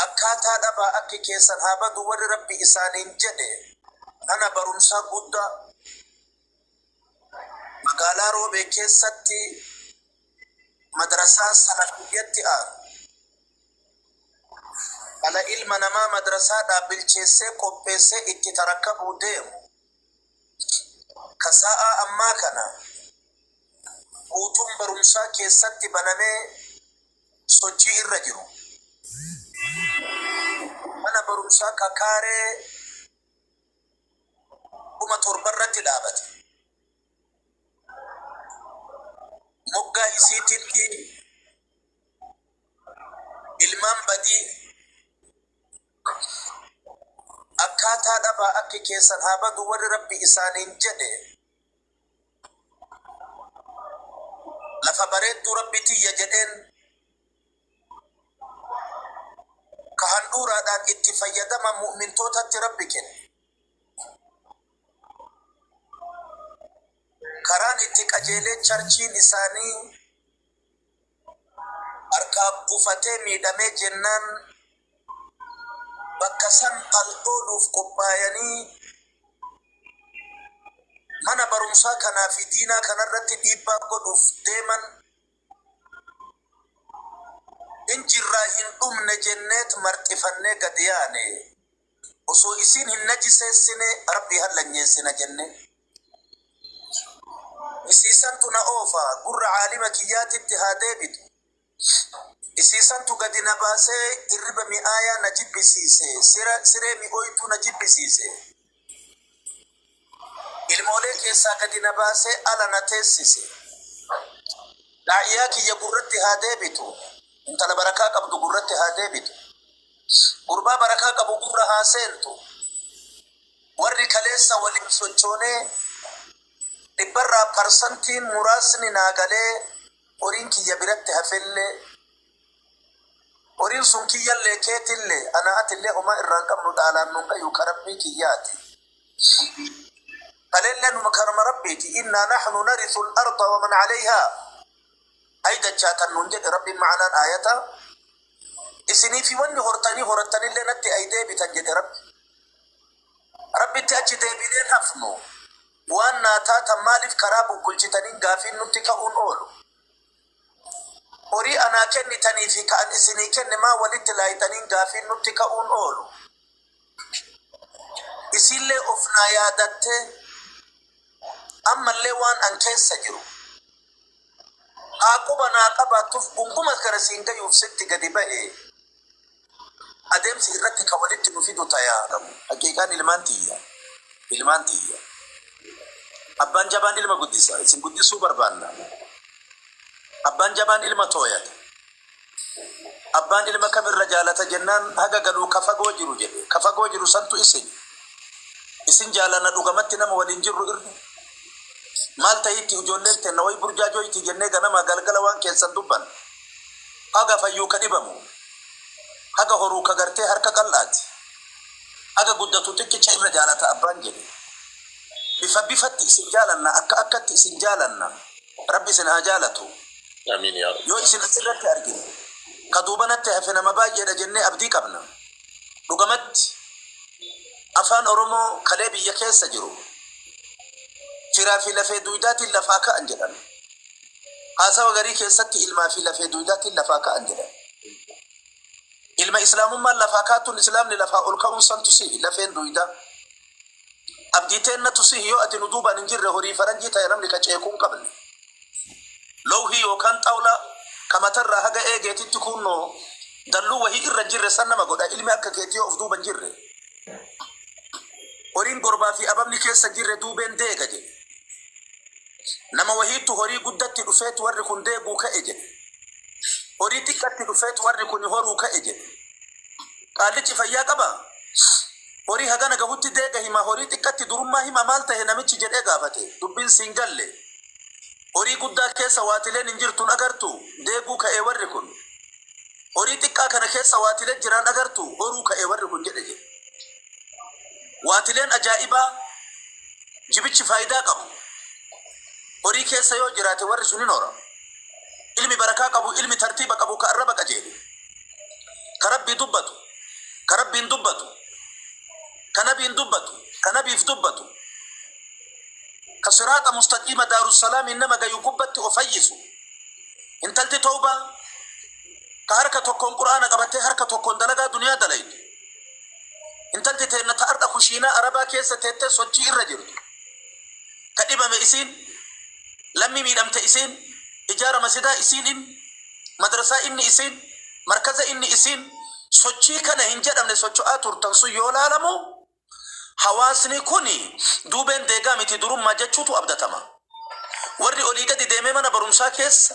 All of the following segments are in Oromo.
Akkaataa dhabaa akki keessan haa badu warri Rabbi isaaniin jedhe kana barumsaa guddaa magaalaa Roobee keessatti madrasaa salafiyyatti aaru dhala ilma namaa madrasaadhaa bilcheessee qopheessee itti tarakabuu deemu Ka sa'aa ammaa kana guutuun barumsaa keessatti banamee sochii irra jiru. Mana barumsaa ka kaaree 7,000 irratti dhaabate. Moggaa isiititti ilmaan badii Akkaataa dhabaa akki keessan haa badu warri Rabbi isaaniin jedhe lafa bareedduu Rabbi tiyya jedheen ka handhuuraadhaan itti fayyadaman mu'mintootatti Rabbi kenne. Karaan itti qajeelee charchiin isaanii harkaa kufatee miidhamee jennaan bakka san al ooluuf qophaayanii mana barumsaa kanaa fi diinaa kanarratti dhiibbaa godhuuf deeman hin jirraa hin dhumne jenneet marxifannee gad yaane. Osoo isiin hin najiseessine Rabbii hallanyeessina jenne. Isiisantu na oofa, gurra aalima kiyyaatitti haa deebitu. Isiisantu gadi na baasee irriba mi'aayaa na jibbisiise, sira, siree mi'ooytuu na jibbisiise. Ilmoolee keessaa gadi na baasee ala na teessise. Daa'iyaa kiyya gurratti haa deebitu. Intala barakaa qabdu gurratti haa deebitu. Gurbaa barakaa qabu gurra haa seentu. Warri kaleessa waliin sochoonee dhibbarraa parsantiin muraasni naa galee horiin kiyya biratti hafellee Horiin sun kiyyallee keetillee anaa atillee homaa irraa hin qabnu dhaalaan nuun gayu ka Rabbii kiyyaati. Kaleellee numa kanuma Rabbiiti innaa naxnu narithul arda wa man calayhaa hay dachaa tan nuun jedhe Rabbiin ma'anaan aayata isinii fi wanni hortanii horattanillee natti ay deebitan jedhe Rabbi. Rabbitti achi deebineen hafnu waan naa taatan maaliif karaa bubbulchitaniin gaafiin nutti ka'uun oolu. Horii anaa kennitanii fi ka ani isinii kenne maa wolitti laayxaniin gaafiin nutti ka'uun oolu. Isiin'llee of naa yaadattee, ammallee waan ani keessa jiru haa quba naa qabaattuuf, gungumas gara siin gayuuf sitti gadi bahe. Adeemsi irratti ka walitti nu fidu ta yaa dhabu. Haqiiqaan ilmaan tiyya, ilmaan tiyya. Abbaan jabaan ilma guddisa, isin guddisuu barbaanna. Abbaan jabaan ilma tooyata. Abbaan ilma kam irra jaalata jennaan haga galuu ka fagoo jiru jedhe. Ka fagoo jiru santu isini. Isin jaalanna dhugamatti nama waliin jirru irra. Maal tahiitti ijoolleen teenna wayi burjaajooyti jennee ganamaa galgala waan keessan dubbanna. Haga fayyuu ka dhibamu, haga horuu ka gartee harka qal'aati, haga guddatu xiqqicha irra jaalata abbaan jedhe. Bifa bifatti isin jaalanna, akka akkatti isin jaalanna. Rabbi isin haa jaalatu. Yoo isin as irratti argine, ka duubanatti hafe nama baay'ee dha jennee abdii qabna. Dhugamatti, Afaan Oromoo kalee biyya keessa jiru, Firaa fi lafee duuydaatiin lafaa ka'an jedhan. Haasawa garii keessatti ilmaa fi lafee duydaatiin lafaa ka'an jedhan. Ilma Islaamummaan lafaa kaatuun Islaamni lafaa ol ka'uun santu sihi lafeen duydaa. Abdii teennatu sihi yoo ati nu duubaan hin jirre horii faranjii ta'e namni ka ceekuu hin qabne. Lowhii yookaan xawlaa ka matarraa haga eegeetitti kuunnoo dalluu wahii irra hin jirre san nama godha ilmi akka keetii yoo of duuba hin jirre. Horiin gorbaa fi ababni keessa hin jirre duubeen deega jedhe. Nama wahiittu horii guddatti dhufeet warri kun deeguu ka'e jedhe. Horii xiqqatti dhufeet warri kun horuu ka'e jedhe. Qaallichi fayyaa qabaa? Horii hagana gahutti deega hima, horii xiqqatti durummaa hima maal tahe namichi jedhee gaafate. Dubbiin siin galle. Horii guddaa keessa waatileen hin jirtu hin agartu? Deeguu ka'ee warri kun. Horii xiqqaa kana keessa waatile jiraan agartu? Horuu ka'ee warri kun jedhe jedhe. Waatileen ajaa'ibaa jibichi faayidaa qabu. Horii keessa yoo jiraate warri sun hin horamu. Ilmi barakaa qabu, ilmi tartiiba qabu ka arraba qajeelu, ka Rabbii dubbatu, ka Rabbiin dubbatu, ka Nabiin dubbatu, ka Nabiif dubbatu, ka siraaxa mustaqiima Daarussalaamiin nama gayu gubbatti of fayyisu. Intalti tawbaa ka harka tokkoon Qur'aana qabattee harka tokkoon dalagaa duniyaa dalaydu. Intalti teenna ta ardha kushiinaa Arabaa keessa teettee sochii irra jirtu, ka dhibame isiin, lammii miidhamte isiin, ijaara masidaa isiin inni, madrasaa inni isiin, markaza inni isiin, sochii kana hin jedhamne socho'aa turtan sun yoo laalamu, hawaasni kuni duubeen deegaa miti durummaa jechuutu abdatama. Warri olii gadi deemee mana barumsaa keessa.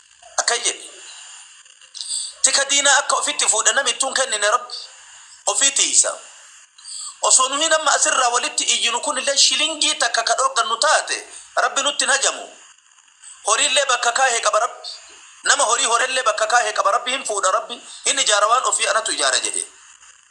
Akkan jedhe, Tika diinaa akka ofitti fuudhe nami ittuu hin kennine Rabbi. Ofii tiysa. Osoo nuhiin amma as irraa walitti iyyinu kunillee shilingii takka ka dhoorgannu taate Rabbi nutti hin hajamu. Horiillee bakka kaahe qaba Rabbi. Nama horii horellee bakka kaahe qaba Rabbi hin fuudha Rabbi hin ijaara waan ofii anatu ijaara jedhe.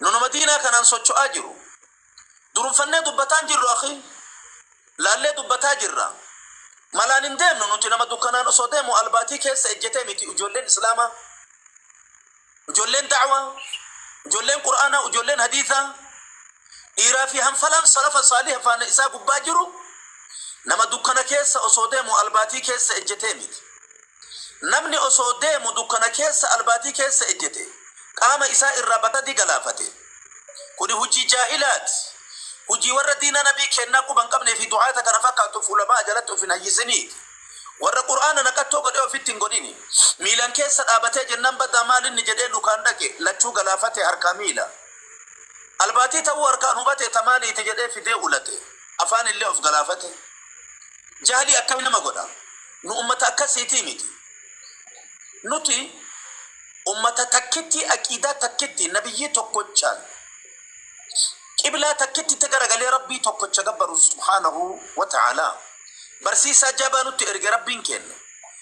Nu nama diinaa kanaan socho'aa jiru durumfannee dubbataa hin jirru akhii. Laallee dubbataa jirra. Malaan hin deemnu nuti nama dukkanaan osoo deemu albaatii keessa ejjetee miti ijoolleen Islaamaa, ijoolleen da'waa, ijoolleen Qur'aanaa, ijoolleen hadiisaa, dhiiraa fi hanfalaan salafa saaliha faana isaa gubbaa jiru nama dukkana keessa osoo deemu albaatii keessa ejjetee miti. Namni osoo deemu dukkana keessa albaatii keessa ejjete qaama isaa irraa batadii galaafate. Kuni hujii jaahilaati. Hujii warra diina nabii keennaa quba hin qabnee fi du'aata kana fakkaattuuf ulama'a jalatti of hin hayyisiniiti. Warra qur'aana naqattoo godhee ofitti hin godhini. Miilan keessa dhaabatee jennaan badaa maal inni jedhee lukaan dhaqe lachuu galaafate harkaa miila. Albaatii ta'uu harkaan hubatee ta maaliiti jedhee fidee ulate. Afaan illee of galaafate. Jahli akkami nama godha? Nu ummata akkasiitii miti. Nuti ummata takkitti aqiidaa takkitti nabiyyii tokkochaan qiblaa takkitti itti garagalee rabbii tokkocha gabbaru subhaanahu wa ta'aalaa. Barsiisaa jabaa nutti erge rabbiin keenna.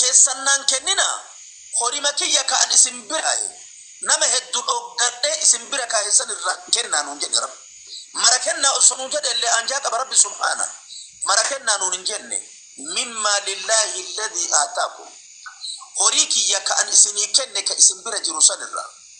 keessan naan kenninaa, horima kiyya ka ani isin biraayi nama heddu dhooggadhee isin bira kaaye san irraa kennaa nuun jedhe Rabbi. Mara kennaa osoo nuun jedheellee aanjaa qaba Rabbi subhaana. Mara kennaa nuun hin jenne. Min maalillaahi alladhii aataakum. Horii kiyya ka ani isinii kenne ka isin bira jiru san irraa.